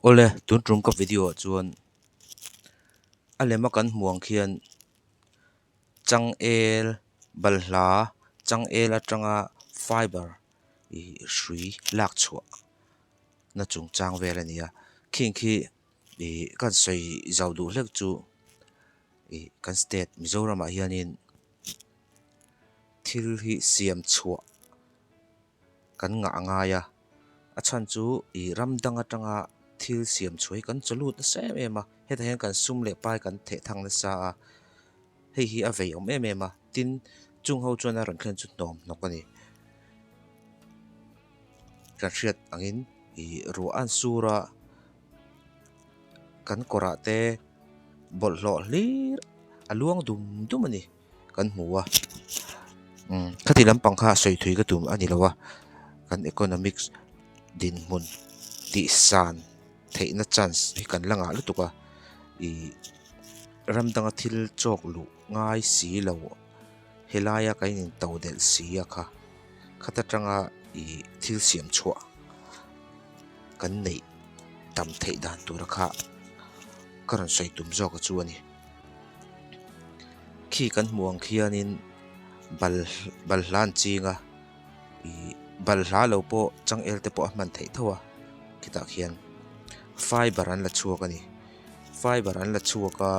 Awle tun tum ka video ah chuan a lem a kan hmuh ang khian changel balhla changel atanga fiber ih hrui lak chhuah na chung chang vel a ni a khi khi ih kan sawi zau duh hlek chu ih kan state Mizoram ah hianin thil hi siam chhuah-- kan ngah ngai a, a chhan chu i ram dang atanga thil siam chhuai kan chaw lut nasa em em a, hetah hian kan sum leh pai kan theh thang nasa a, hei hi a vei awm em em a, tin chung ho chuan a rawn thlen chu hnawm hnawk a ni, ka hriat angin i ruah an sur a, kan kawrah te bawlhhlawh hlir a luang dum dum a ni. kan hmu a umm khati lampang kha sawi thui ka tum a ni lo a kan economics dinhmun tih san theihna chance hi kan la ngah lutuk a ih ram dang a thil chawk luh ngai si lo he laia kan in to delh si a kha khat atanga ih thil siam chhuah kan neih tam theih dan tura kha ka rawn sawi tum zawk a chu a ni. khi kan hmuh ang khianin bal bal hla an ching a ih bal hla lo pawh changel te pawh a hman theih tho a khitah khian fiber an la chhuak a ni fiber an la chhuak a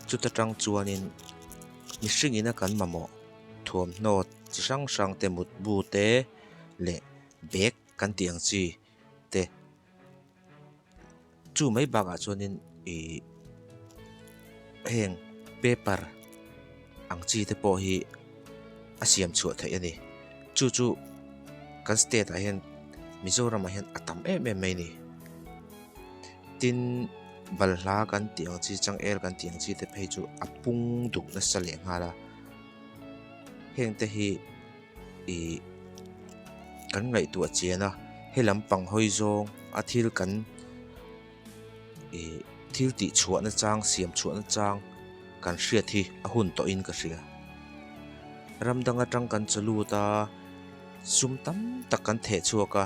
chuta tang chuanin mihring ina kan mamawh thuamhnaw chi hrang hrang te mutbu te leh bag kan tih ang chi te-- chu mai bakah chuanin ih heng paper ang chi te pawh hi a siam chhuah theih a ni chu chu kan state ah hian Mizoram ah hian a tam em em mai a ni tin balhla kan tih ang chi changel kan tih ang chi te phei chu a pung duk nasa leh nghal a heng te hi. I kan ngaihtuah a chian a, helam pang hawi zawng a thil kan I thil tih chhuah na chang siam chhuah na chang kan hriat hi a hun tawh in ka hria. Ram dang atang kan chaw lut a, sum tam tak kan theh chhuak a,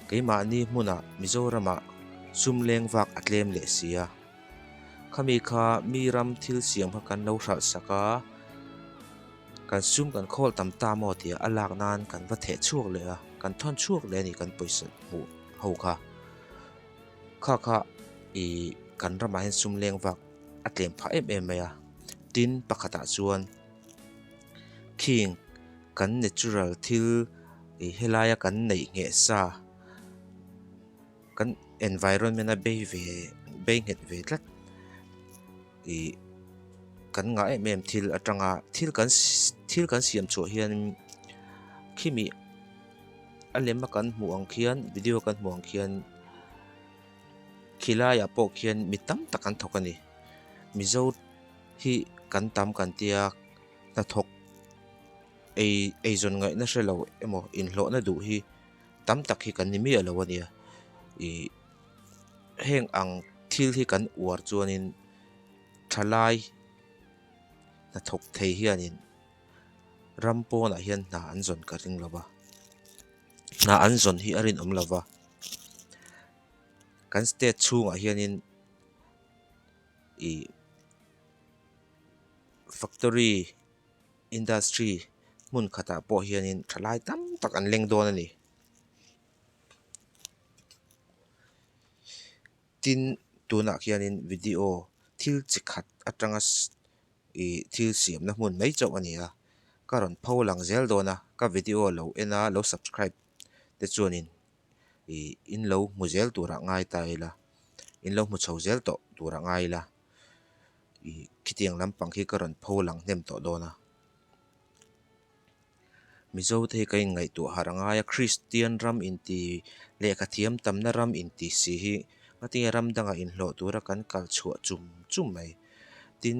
keimahni hmunah Mizoramah sum leng vak a tlem leh si a. Khami kha mi ram thil siam kha kan lo hralh sak a, kan sum kan khawl tam ta maw tia a lak nan kan va theh chhuak leh a, kan thawn chhuak leh a ni kan pawisa hmuh ho kha. Kha kha ih kan ramah hian sum leng vak a tlem phah em em mai a, tin pakhatah chuan khing kan natural thil ih helaia kan neih ngheh sa, kan environment a bei ve bei nghet ve tlat ihh kan ngah em em thil atanga thil kan thil kan siam chhuah hian khimi a lem a kan hmuh ang khian video kan hmuh ang khian khi laiah pawh khian mi tam tak an thawk a ni mizo hi kan tam kan tia hnathawk ei eizawn ngaihna hrelo emaw inhlawhna duh hi. tam tak hi kan ni miah lo a nia ih heng ang thil hi kan uar chuanin thalai hnathawk thei hianin ram pawnah hian hna an zawn ka ring lo va hna an zawn hi a rinawm lo va kan state chhungah hianin ih factory. Industry hmun khatah pawh hianin thalai tam tak an leng dawn a ni tin tunah khianin video thil chi khat atanga ih thil siamna hmun mai chauh a ni a ka rawn pho lang zel dawn a ka video a lo en a lo subscribe te chuanin ih in lo hmu zel turah ngai ta ila in lo hmu chho zel tawh turah ngai ila. ih khitiang lampang khi ka rawn pho lang hnem tawh dawn a, Mizo te hi ka inngaihtuah harh ngai a, Kristian ram inti lehkha thiam tamna ram inti si hi ka tinge ram dangah inhlawh tura kan kal chhuah chum chum mai, tin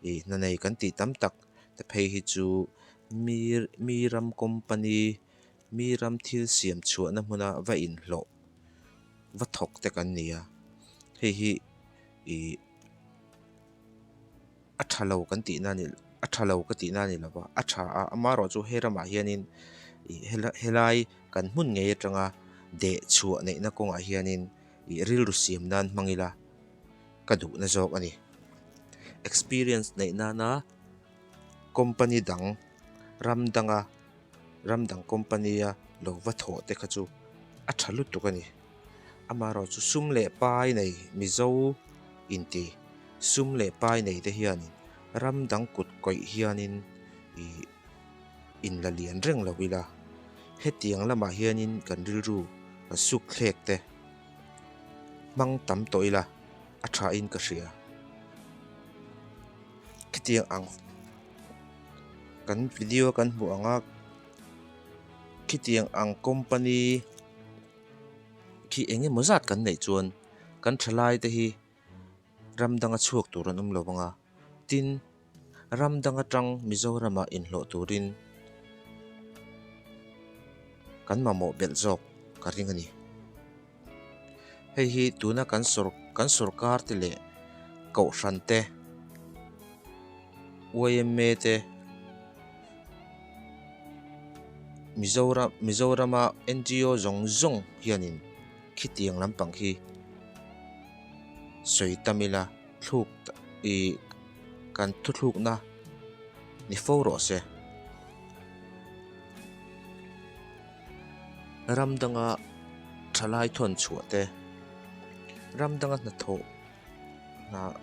ih hna nei kan tih tam tak te phei hi chu mi mi ram company. Mi ram thil siam chhuahna hmuna va inhlawh va thawk te kan ni a, hei hi ih a tha lo kan tihna ani a tha lo ka tihna ani lova, a tha a, a marawh chu he ramah hianin ih helai kan hmun ngei atanga dehchhuah neihna kawngah hianin ih rilru siam nan hmang ila ka duhna zawk ani. Experience neih nana company dang, ram danga. Ramdang company-a lo va thawh te kha chu a tha lutuk a ni. Amaherawh chu sum leh pai nei Mizo inti sum leh pai nei te hian ramdang kut kawih hianin ih in la lian reng lo ila, hetiang lamah hianin kan rilru kan sukthlek te hmang tam tawh ila a thain ka hria. Khetiang ang. kan video kan hmuh ang a khitiang ang company khi eng emaw zat kan neih chuan kan tha lai te hi ram dang a chhuak tur an awm lo vang a tin ram dang atang Mizoram ah inhlawh turin kan mamawh belh zawk ka ring a ni. Hei hi tuna kan sawr kan sawrkar te leh kohhran te yma te Mizoram Mizorama NGO zawng zawng hianin khitiang lampang hi sawi ta mil a thluk ih kan thuthlukna ni fo rawh se. Ram danga thalai thawn chhuah te, ram danga hnathawh hnah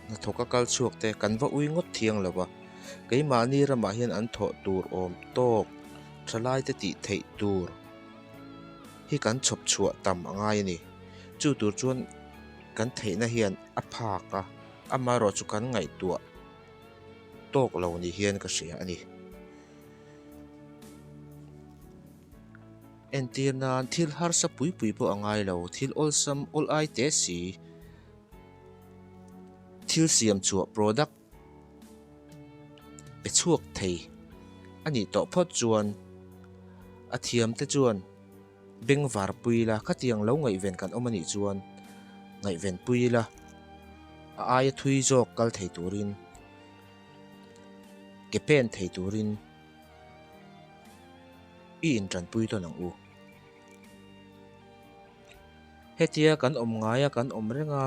hnathawh ka kal chhuak te kan va ui ngawt thiang lo va, keimahni ramah hian an thawh tur awm tawk thalai te tih theih tur hi kan chhawp chhuah tam a ngai a ni. Chu tur chuan kan theihna hian a phak a, amaherawhchu kan ngaihtuah tawk lo ni hian ka hria a ni. Entir nan thil harsa pui pui pawh a ngai lo, thil awlsam awl ai te si, thil siam chhuah product pe chhuak thei a nih tawh phawt chuan a thiam te chuan beng var pui ila khatiang lo ngaihven kan awm a nih chuan ngaihven pui ila a aia thui zawk kal thei turin. Ke pen thei turin i intanpui tawn ang u. Hetia kan awm ngai a, kan awm reng a.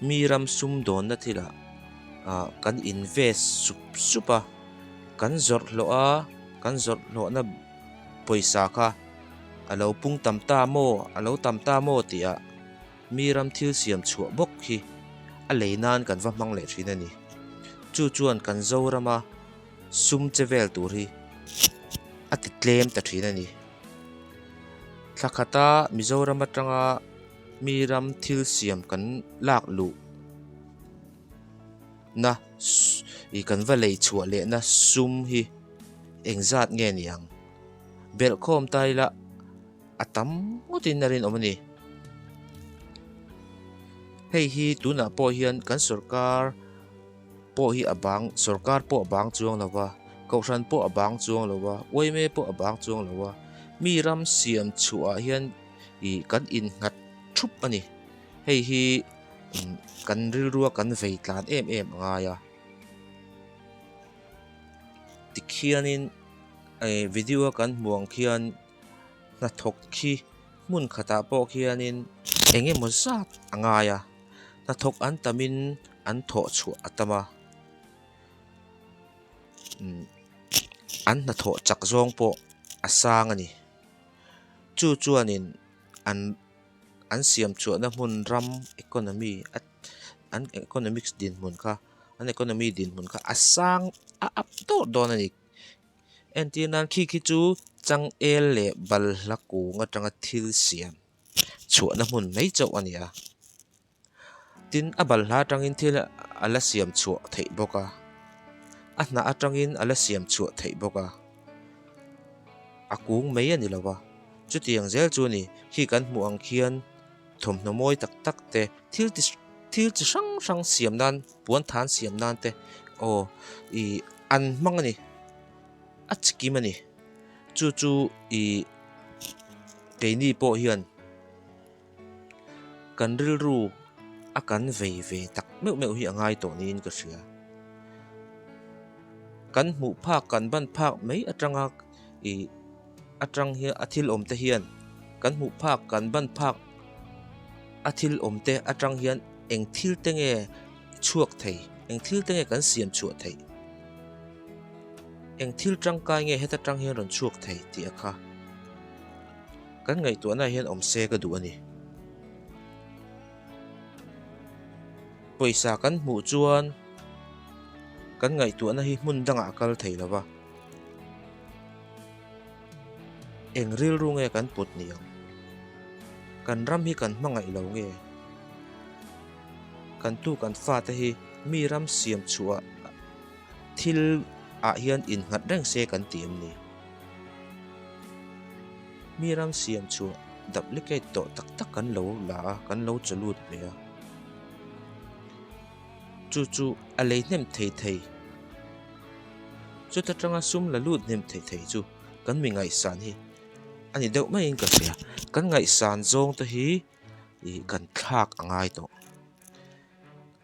mi ram sum dawn na thil ah ah kan invest sup sup a kan zawrh hlawh a kan zawrh hlawh na pawisa kha alo pung tam ta maw alo tam ta maw tih ah. Mi ram thil siam chhuah bawk hi a lei nan kan va hmang leh thin a ni. Chu chuan kan Zorama sum che vel tur hi a ti tlem ta thin a ni. Thla khata Mizoram atanga mi ram thil siam kan lak luh na ih kan va lei chhuah leh na sum hi eng zat nge ni ang? Belhkhawm tai lah. A tam ngawtin a rinawm a ni. Hei hi tunah pawh hian kan sorkar pawh hi a bang, sorkar pawh a bang chuang lo va, Kohhran pawh a bang chuang lo va, YMA pawh a bang chuang lo va, mi ram siam chhuahah hian ih kan innghat thup a ni. Hei hi kan rilrua kan vei tlan em em a ngai a. Tikhianin video kan hmuh ang khian. hnathawk khi hmun khatah pawh khianin eng emaw zat a ngai a, hnathawk an tam in an thawh chhuah a tam a, umm an hnathawh chak zawng pawh a sang a ni. Chu chuanin an an siam chhuahna hmun ram economy a an economics dinhmun kha an economy dinhmun kha a sang a up tawh dawn a ni. Entir nan khi khi chu changel leh balhla kung atanga thil siam chhuahna hmun mai chauh a ni a, tin a balhla atangin thil a la siam chhuah theih bawk a, a hnah atangin a la siam chhuah theih bawk a, a kung mai a ni lo va, chutiang zel chu a ni khi kan hmuh ang khian, Thawmhnaw mawi tak tak te, thil ti thil chi hrang hrang siam nan, puan than siam nan te aw i an hmang a ni, a chi kim a ni. Chu chu i keini pawh hian kan rilru a kan vei ve tak meuh meuh hi a ngai tawh niin ka hria. Kan hmuh phak, kan ban phak mai atanga i Atang hian a thil awmte hian kan hmuh phak, kan ban phak a thil awmte atang hian eng thil te nge chhuak thei, eng thil te nge kan siam chhuah thei, eng thil tangkai nge heta tang hian rawn chhuak thei tih a kha kan ngaihtuahnaah hian awm se ka duh a ni. Pawisa kan hmuh chuan kan ngaihtuahna hi hmun dangah a kal thei lo va. Eng rilru nge kan put ni ang? Kan ram hi kan hmangaih lo nge? Kan tu kan fate hi mi ram siam chhuah thil ah hian in nghat reng se kan ti em ni? Mi ram siam chhuah duplicate tawh tak tak kan lo la a, kan lo chaw lut mai a. chu chu a lei hnem thei thei. Chuta tanga sum la lut hnem thei thei chu kan mi ngaihsan hi a ni deuh maiin ka hria. Kan ngaihsan zawng te hi ih kan thlak a ngai tawh.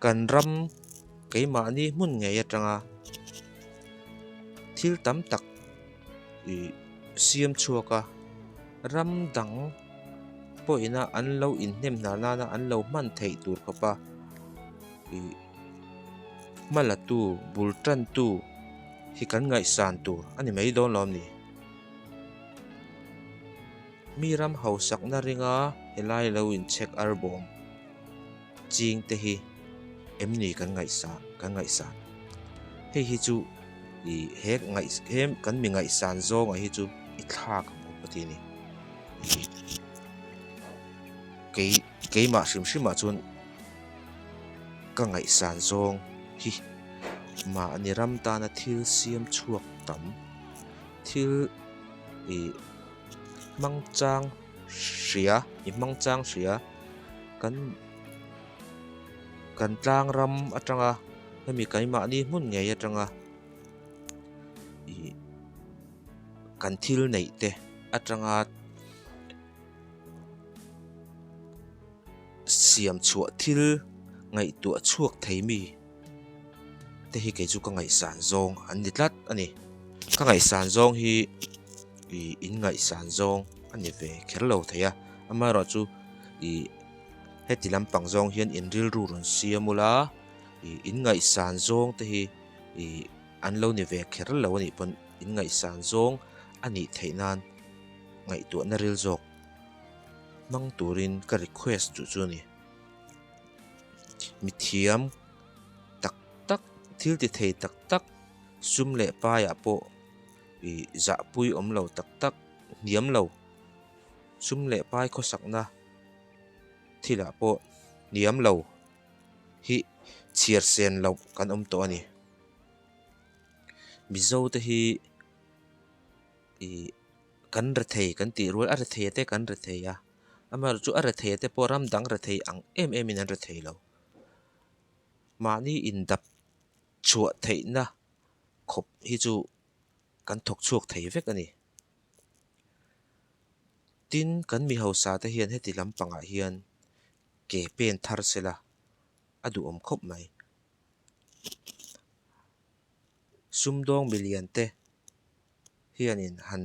Kan ram keimahni hmun ngei atanga thil tam tak ih siam chhuak a, ram dang. pawhina an lo inhnem hna nana an lo hman theih tur khawp a, ih hma la tu bul tan tu hi kan ngaihsan tur a ni mai dawn lo am ni? Mi ram hausakna ringa helai lo inchhek arbawm. ching te hi em ni kan ngaihsa kan ngaihsan hei hi chu i he ngaih he kan mi ngaihsan zawngah hi chu i thlak ang bawk ka ti a ni kei keimah hrim hrimah chuan ka ngaihsan zawng hi mah a ni ram tana thil siam chhuak tam thil i hmang chang hria i hmang chang hria kan kan tlang ram atanga hemi kaimahni hmun ngei atanga ihh kan thil neih te atanga siam chhuah thil ngaihtuah chhuak thei mi. te hi kei chu ka ngaihsan zawng an ni tlat a ni. Ka ngaihsan zawng hi ih in ngaihsan zawng a ni ve kher lo thei a, amaherawh chu ih heti lampang zawng hian in rilru rawn siam ul a, ih in ngaihsan zawng te hi ih an lo ni ve kher lo a nih pawn in ngaihsan zawng a nih theih nan ngaihtuahna ril zawk hmang turin ka request chu chu a ni. Mithiam tak tak, thil ti thei tak tak, sum leh paiah pawh ih zahpui awm lo tak tak, hniam lo, sum leh pai khawsakna thilah pawh hniam lo hi chhiarsen loh kan awm tawh a ni. Mizo te hi ih kan rethei kan tih rual a, rethei te kan rethei a. Amah chu a rethei te pawh ram dang rethei ang em em in an rethei lo. Mahni indap chhuah theih na khawp hi chu kan thawk chhuak thei vek a ni. Tin kan mi hausa te hian heti lam pang ah hian ke pen thar se la a duhawm khawp mai. Sumdawng milian te hian in han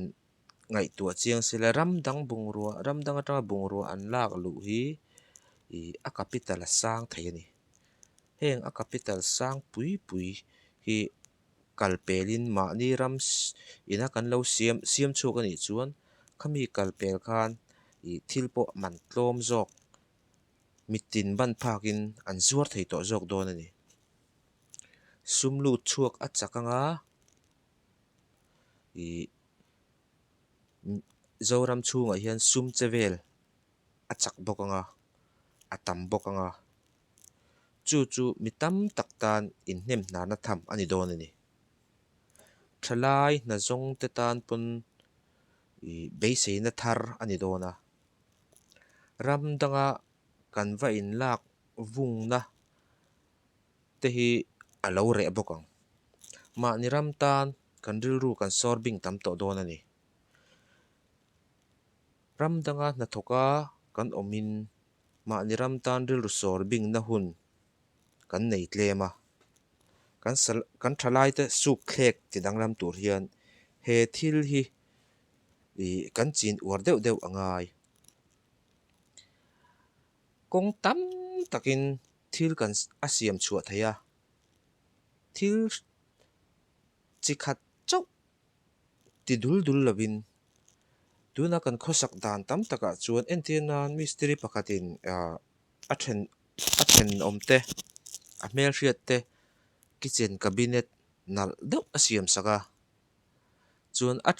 ngaihtuah chiang se la ram dang bungrua ram dang atanga bungrua an lak luh hi ih a capital a sang thei a ni heng a capital sang pui pui hi kal pelin mahni ram ssii ina kan lo siam siam chhuak a nih chuan khami kal pel khan ih thil pawh man tlawm zawk mitin ban phak in an zuar thei tawh zawk dawn a ni sum lut chhuak a chak ang a. ih Zoram chhungah hian sum che vel a chak bawk anga a tam bawk anga chu chu mi tam tak tan inhnem hnahna tham a ni dawn a ni. Tha lai hna zawng te tan pawn ih beiseina thar a ni dawn a, ram danga kan va inlak vungna. te hi a lo reh bawk ang. Mahni ram tan kan rilru kan sawr bing tam tawh dawn a ni. Ram danga hnathawka kan awmin mahni ram tan rilru sawr bingna hun kan nei tlem a. Kan sa kan tha laite sukthlek ti dang lam tur hian he thil hi ih kan chin uar deuh deuh a ngai. Kawng tam takin Thil kan a siam chhuah thei a, thil chi khat chauh ti dul dul lovin tuna kan khawsak dan tam takah chuan entir nan mistiri pakhatin a then a thenawm te, a hmelhriat te kitchen cabinet nalh deuh a siam sak a, chuan a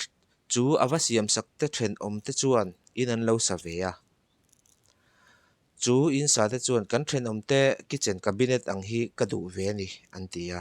chu a va siam sak te thenawm te chuan in an lo sa ve a. Chu insate chuan kan thenawmte kitchen cabinet ang hi ka duh ve a ni, an ti a.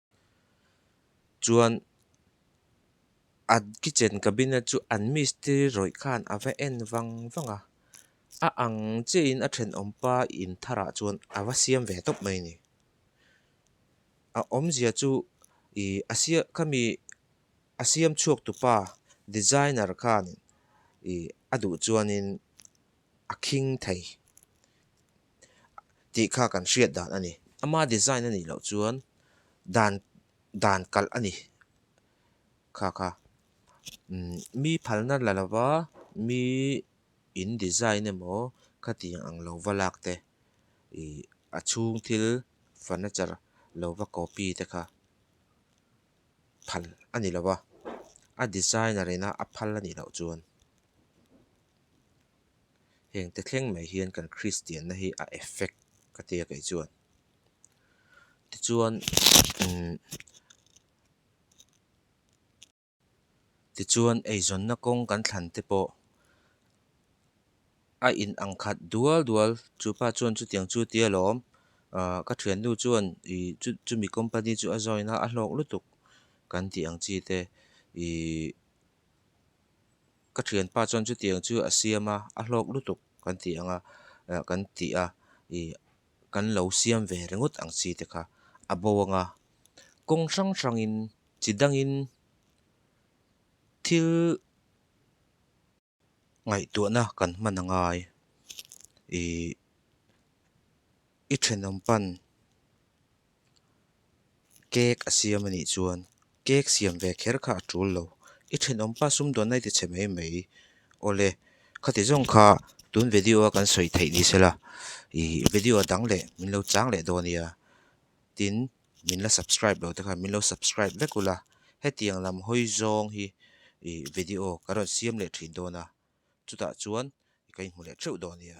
chuan an kitchen cabinet chu an mistiri rawih khan a va en vang vang a, a ang chiah in a thenawm pa in thar ah chuan a va siam ve tawp mai a ni, a awmzia chu ih a siam khami a siam chhuak tu pa designer khan ih a duh chuan in a khing thei. tih kha kan hriat dan a ni. Ama design a nih loh chuan dan dan kalh a ni kha kha mi phalna la lova mi in design emaw khati ang ang lova lak te ih a chhung thil furniture lova copy te kha phal a ni lova a designer ina a phal a nih loh chuan. heng te thleng mai hian kan kristianna hi a effect ka tia kaih chuan tichuan umm tichuan eizawnna kawng kan thlan te pawh a in ang khat dual dual chu pa chuan chutiang chu tia lawm ahh ka thiannu chuan ih chu chumi company chu a join a a hlawk lutuk kan tih ang chi te ihh. ka thianpa chuan chutiang chu a siam a, a hlawk lutuk kan tih ang a, eh kan tih a, ih kan lo siam ve ringawt ang chi te kha a bo ang a, kawng hrang hrangin chi dangin thil ngaihtuahna kan hman a ngai, ih i thenawm pan. Cake a siam a nih chuan cake siam ve kher kha a tul lo. I thenawm pa sum dawnna i ti chhe mai mai. Awle, khati zawng kha tun video a kan sawi theih ni se la, ih video a dang leh min lo chang leh dawn a nia. Tin, min la subscribe lo te khan min lo subscribe vek ula, hetiang lam hawi zawng hi video ka rawn siam leh thin dawn a, chutah chuan ka inhmu leh theuh dawn a nia.